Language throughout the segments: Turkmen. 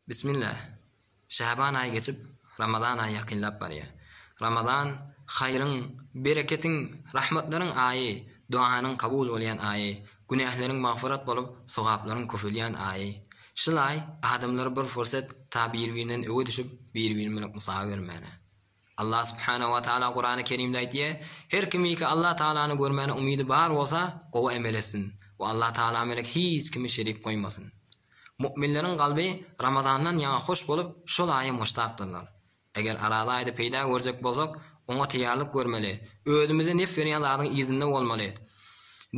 Bismillah! Şaban aýy geçip, Ramazan aýy ýakynlap barýar. Ramazan, haýryň, bereketiň, rahmatlaryň aýy, duanyň kabul bolýan aýy, günähleriň magfyrat bolup, sogaplaryň köpelýän aýy. Şyl aý adamlary bir fursat ta bir-birinden öňe düşüp, bir-biri bilen gusaga bermäne. Allah subhanahu wa taala Kurany Kerimde aýdýar, Her kimiki Allah tagalany görmäne umydy bar bolsa, gowy emel etsin we Allah tagala melek hiç kimi şerik goýmasyn. Mu'minleriň kalby Ramazandan ýaňa hoş bolup, şol aýa muştakdyrlar. Eger Araza aýda peýda görjek bolsak, oňa teýýarlyk görmeli, özümizi nep berýän zadyň yzynda bolmaly.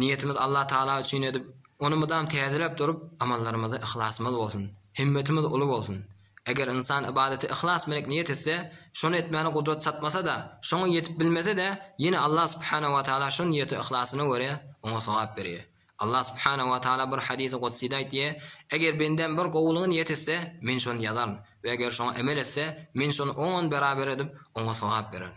Niýetimiz Allah tagala üçin edip, ony mydam täzeläp durup, amallarymyzda yhlasymyz bolsun, himmetimiz uly bolsun. Eger ynsan ybadaty yhlas bilenik niýet etse, şony etmäne gudrat çatmasa-da, şoňa ýetip bilmese-de, ýene Allah subhanahu wa taala şo niýete yhlasyna görä, oňa sogap berýär. Allah subhanahu wa taala bir hadisi gudside aýtýar, Eger bendäm bir gowulygy niýet etse, Men şony ýazaryn, we eger şoňa emel etse, Men şony oňon beraber edip, oňa sogap bererin.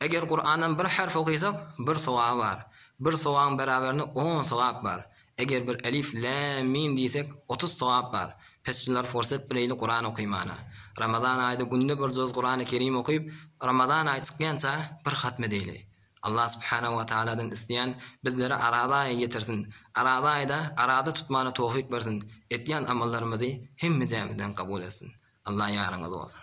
Eger Kurandan bir harf okaýsak, bir sogaby bar. Bir sogabyň beraberinde on sogap bar. Eger bir elif, lam, mim diýsek, otuz sogap bar. Pesçiler forsat bileýli Kuran okaýmana. Ramazan aýda günde bir juz Kurany Kerim okyp, Ramazan aýy çykýança bir hatm edeýli. Allah subhanahu we taaladan isleýän bizlere araza aýy getirsin. Araza aýda araza tutmana towfik bersin. Etýän amallarymyzy hemmejämizden kabul etsin. Allah ýaryňyz bolsun.